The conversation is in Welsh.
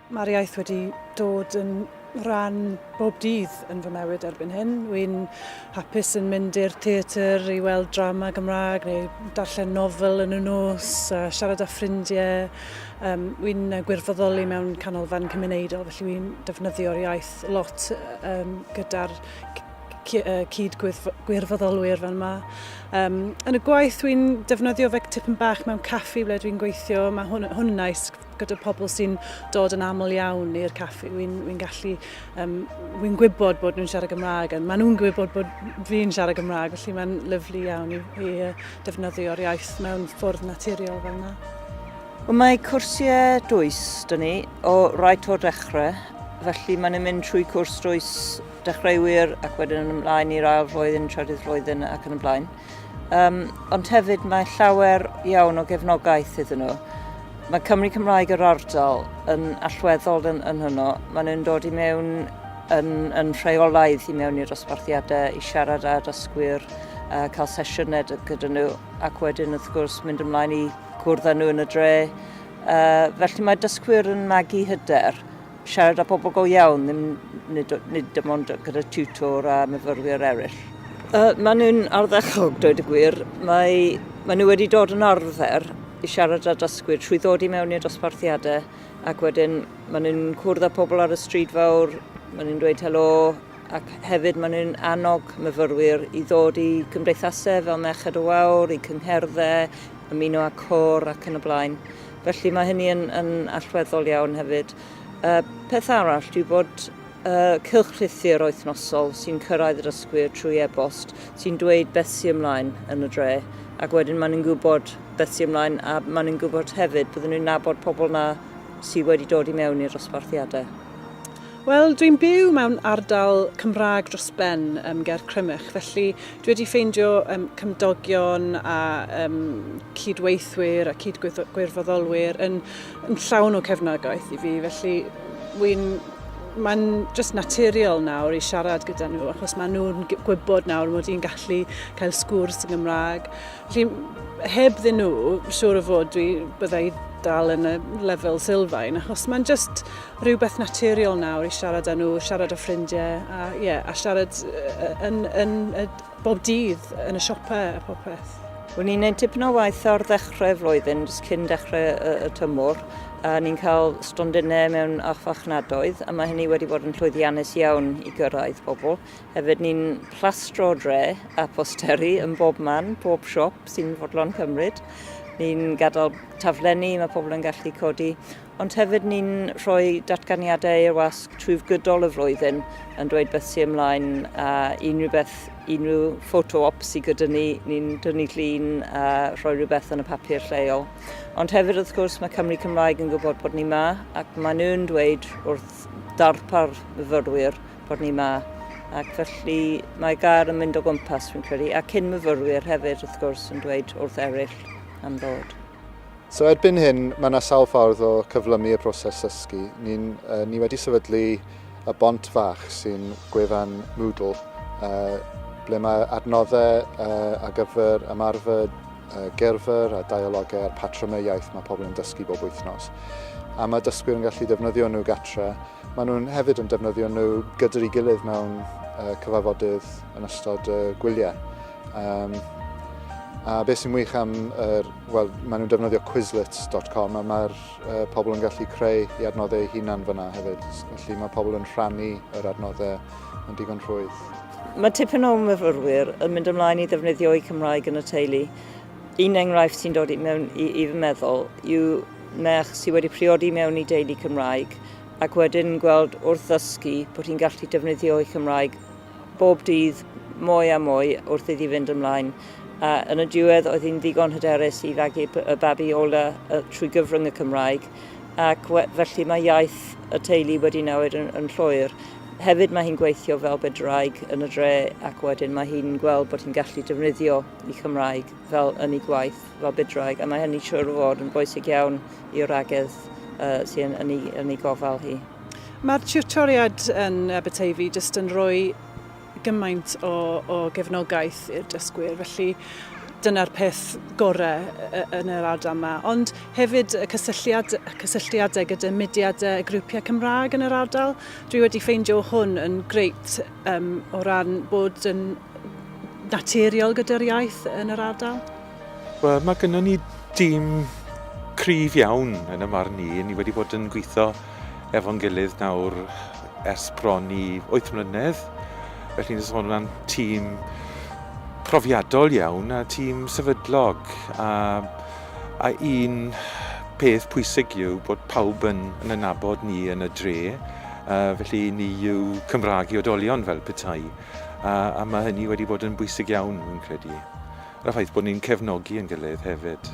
Mae'r iaith wedi dod yn rhan bob dydd yn fy mewyd erbyn hyn. Wy'n hapus yn mynd i'r theatr i weld drama Gymraeg neu darllen nofel yn y nos, a siarad â ffrindiau. Um, wy'n gwirfoddoli mewn canolfan cymunedol, felly wy'n defnyddio'r iaith lot um, gyda'r cyd-gwirfoddolwyr fan yma. Um, yn y gwaith dwi'n defnyddio fe tipyn bach mewn caffi ble dwi'n gweithio, mae hwn, hwn yn nice gyda pobl sy'n dod yn aml iawn i'r caffi. Wy'n wy gallu, um, wy'n gwybod bod nhw'n siarad Gymraeg, ond maen nhw'n gwybod bod fi'n siarad Gymraeg, felly mae'n lyflu iawn i, i defnyddio'r iaith mewn ffwrdd naturiol fel yna. Wel, mae cwrsiau dwys, dyn ni, o rait o'r dechrau, felly maen nhw'n mynd trwy cwrs dwys dechreuwyr ac wedyn yn ymlaen i'r ail flwyddyn, trydydd flwyddyn ac yn y blaen. Um, ond hefyd mae llawer iawn o gefnogaeth iddyn nhw. Mae Cymru Cymraeg yr ardal yn allweddol yn, yn hwnnw. Maen nhw'n dod i mewn yn, yn rheolaidd i mewn i'r dosbarthiadau i siarad â dysgwyr, uh, cael sesiynau gyda nhw ac wedyn wrth gwrs mynd ymlaen i gwrdd â nhw yn y dre. Uh, felly mae dysgwyr yn magu hyder Siarad â pobl go iawn, ddim, nid, nid dim ond gyda tutor a myfyrwyr eraill. Uh, maen nhw'n arddechog, dweud y gwir. Mae, maen nhw wedi dod yn arfer i siarad â dysgwyr trwy ddod i mewn i'r dosbarthiadau ac wedyn maen nhw'n cwrdd â pobl ar y stryd fawr, maen nhw'n dweud helo ac hefyd maen nhw'n annog myfyrwyr i ddod i cymdeithasau fel Merched y Wawr, i cyngherddau, ymuno â cor ac yn y blaen. Felly mae hynny yn, yn allweddol iawn hefyd. Uh, peth arall dwi bod uh, cylchlythyr oethnosol sy'n cyrraedd yr ysgwyr trwy e-bost sy'n dweud beth sy'n ymlaen yn y dre ac wedyn maen nhw'n gwybod beth sy'n ymlaen a maen nhw'n gwybod hefyd byddwn nhw'n nabod pobl na sydd wedi dod i mewn i'r osbarthiadau. Wel, dwi'n byw mewn ardal Cymraeg dros ben um, ger Crymych, felly dwi wedi ffeindio um, cymdogion a um, cydweithwyr a cydgwirfoddolwyr yn, yn llawn o cefnogaeth i fi, felly wy'n mae'n just naturiol nawr i siarad gyda nhw achos maen nhw'n gwybod nawr mod i'n gallu cael sgwrs yn Gymraeg. Felly, heb ddyn nhw, siŵr o fod dwi byddai dal yn y lefel sylfaen achos mae'n just rhywbeth naturiol nawr i siarad â nhw, siarad â ffrindiau, a, yeah, a siarad yn, yn, yn, bob dydd yn y siopau a popeth. O'n i'n neud tipyn o waith o'r ddechrau flwyddyn, jyst cyn dechrau y, y tymor, a ni'n cael stondinau mewn achfachnadoedd, a mae hynny wedi bod yn llwyddiannus iawn i gyrraedd bobl. Hefyd ni'n plastro dre a posteri yn bob man, bob siop sy'n fodlon cymryd. Ni'n gadael taflenni, mae pobl yn gallu codi Ond hefyd ni'n rhoi datganiadau i'r wasg trwy gydol y flwyddyn yn dweud beth sy'n ymlaen a unrhyw beth, unrhyw photo op sydd gyda ni, ni'n dynnu llun a rhoi rhywbeth yn y papur lleol. Ond hefyd wrth gwrs mae Cymru Cymraeg yn gwybod bod ni ma ac maen nhw'n dweud wrth darpar myfyrwyr bod ni ma. Ac felly mae gair yn mynd o gwmpas fi'n credu a cyn myfyrwyr hefyd wrth gwrs yn dweud wrth eraill am ddod. So erbyn hyn, mae yna sawl ffordd o cyflymu y broses ddysgu. Ni, uh, ni wedi sefydlu y bont fach sy'n gwefan Moodle, uh, ble mae adnoddau uh, ar gyfer ymarfer uh, gerfer a dialogau a'r patrymau iaith mae pobl yn dysgu bob wythnos. A mae dysgwyr yn gallu defnyddio nhw gatre. Maen nhw'n hefyd yn defnyddio nhw gyda'i gilydd mewn uh, cyfarfodydd yn ystod y uh, gwyliau. Um, a beth sy'n wych am, er, well, maen nhw'n defnyddio quizlets.com a mae'r uh, pobl yn gallu creu i adnoddau eu hunan fyna hefyd. Felly mae pobl yn rhannu yr adnoddau yn digon rhwydd. Mae tipyn o myfyrwyr yn mynd ymlaen i ddefnyddio eu Cymraeg yn y teulu. Un enghraifft sy'n dod i mewn i, i fy meddwl yw merch sydd wedi priodi mewn i deulu Cymraeg ac wedyn gweld wrth ddysgu bod hi'n gallu defnyddio ei Cymraeg bob dydd mwy a mwy wrth iddi fynd ymlaen. A yn y diwedd, oedd hi'n ddigon hyderus i fagu y babi ola trwy gyfrwng y Cymraeg, ac felly mae iaith y teulu wedi newid yn, yn llwyr. Hefyd mae hi'n gweithio fel bedraig yn y dre ac wedyn mae hi'n gweld bod hi'n gallu defnyddio i Cymraeg fel yn ei gwaith fel bedraig a mae hynny siwr o fod yn bwysig iawn i'r agedd uh, sy'n yn ei, yn ei gofal hi. Mae'r tiwtoriad yn Aberteifi jyst yn rhoi gymaint o, o gefnogaeth i'r dysgwyr, felly dyna'r peth gorau yn yr ardal yma. Ond hefyd y cysylltiad, cysylltiadau gyda mudiadau a grwpiau Cymraeg yn yr ardal. Dwi wedi ffeindio hwn yn greit um, o ran bod yn naturiol gyda'r iaith yn yr ardal. Wel, mae gennym ni dîm cryf iawn yn y marn i. Ni wedi bod yn gweithio efo'n gilydd nawr ers bron i 8 mlynedd. Felly ni'n sôn am tîm profiadol iawn a tîm sefydlog a, a un peth pwysig yw bod pawb yn, yn anabod ni yn y dre. Uh, felly ni yw Cymraeg i odolion fel petai. A, a mae hynny wedi bod yn bwysig iawn, fi'n credu. A'r ffaith bod ni'n cefnogi ein gilydd hefyd.